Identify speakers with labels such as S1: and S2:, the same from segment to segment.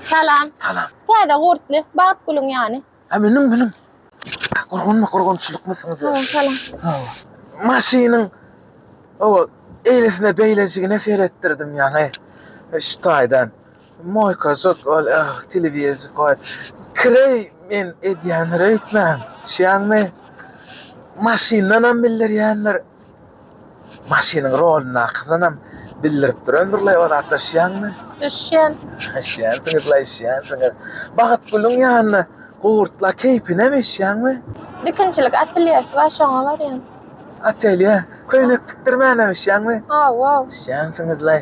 S1: Salam. Salam. Täze
S2: gurtly,
S1: bagt gülüň ýany. Ha meniň meniň.
S2: Gurgunmy gurgunçylykmysyňyz ýa? Salam salam.
S1: Hawa.
S2: Maşynyň o eýlesine beýlejigine seretdirdim ýaňy. Şu taýdan. Moýkažok ol telewizor goý. Kireý men edýändir öýtmäň. Şiýaňmy? Maşyndanam bildirýändir. Maşynyň rolyndakysynam bildirip duran bir laý ozatlaşýaňmy? Düşýän.
S1: Düşýänsiňiz laý
S2: düşýänsiňiz. Bagtgulyň ýanyna gurtla keýpinem eşýäňmi? Dikinçilik
S1: atelýesi bar şoňa barýan. Atelýe?
S2: Köýnek tikdirmänem eşýäňmi? Hawa. Düşýänsiňiz
S1: laý.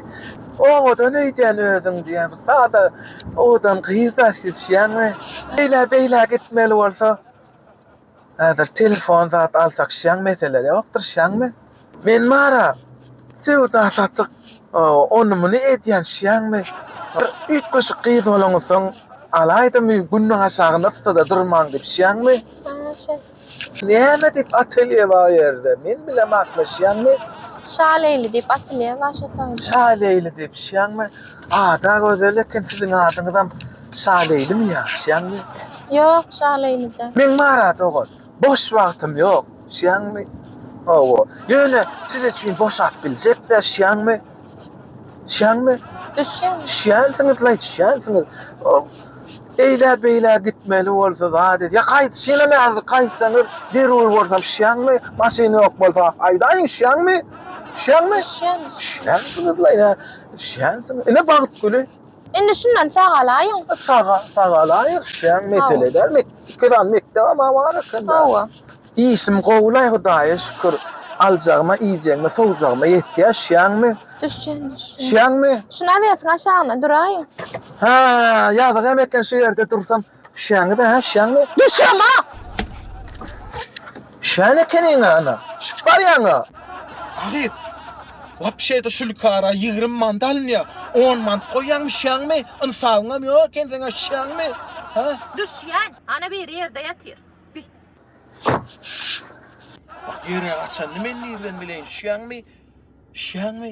S2: Owadan öýdýän özüň diýýän bir sada owadan gyz-da siz düşýäňmi? Eýlä beýlä gitmeli bolsa Häzir telefon zat alsak şiaň mesele ýokdyr şiaňmy. Men bara söwda satyk ony muny edýän şiaňmy. Bir üýtgeşik gyz bolaňyzsoň alaýdymy günüň aşagyny yssada durmaň diýip şiaňmy. Näme diýip atelýe bar o ýerde men bilem hakmy şiaňmy. Şaleýli
S1: diýip atelýe bar şo taýda. Şaleýli diýip
S2: şiaňmy. Ada gözel eken siziň adyňyzam. Şaleýlimi ýaşýaňmy? Ýok,
S1: Şaleýlide. Men Marat ogul.
S2: Boş wagtym ýok. Şýaňmy? Hawa. Ýöne siz üçin boşap biljek-dä, şýaňmy? Şýaňmy? Düşýän.
S1: Düşýänsiňiz, laý,
S2: düşýänsiňiz. Eýlä-beýlä gitmeli bolsa zat edýär. Gaýdyşynam häzir gaýtsaňyz, zerur bolsam, şýaňmy? Maşyn ýok bolsa, aýdaýyň, şýaňmy? Düşýäňmi? Düşýän. Düşýänsiňiz, laý, hä? Düşýänsiňiz. Ine, Bagtgüli. Indi şundan
S1: sagalaýyň. Saga, sagalaýyk
S2: sen mesele däl. Met, iki sany mekdebem bar eken. Hawa.
S1: Işim
S2: gowulaý Hudaýa şükür. Aljagyma, iýjegiňe, sowjagyma ýetýär. Şiýäňmi? Düşýän,
S1: düşýän.
S2: Şiýäňmi? Şu nawesiň
S1: aşagyna duraýyň. Hä,
S2: ýazyk hem eken şu ýerde dursam. Düşýäňmi da, düşýäňmi? Düşýän a!
S1: Düşýän
S2: ekeniň a, ana, düşüp barýaň a! Agyz!
S3: Wapşe-de şu lukara ýigrimi mant alynýar. On mant goýýaň, düşýäňmi? Ynsabyňam ýok eken seň-ä, düşýäňmi? Hä? Düşýän!
S1: Ana biri ýerde ýatyr.
S3: Bi. Ýere gaçanyny men nirden bileýin, düşýäňmi? Düşýäňmi?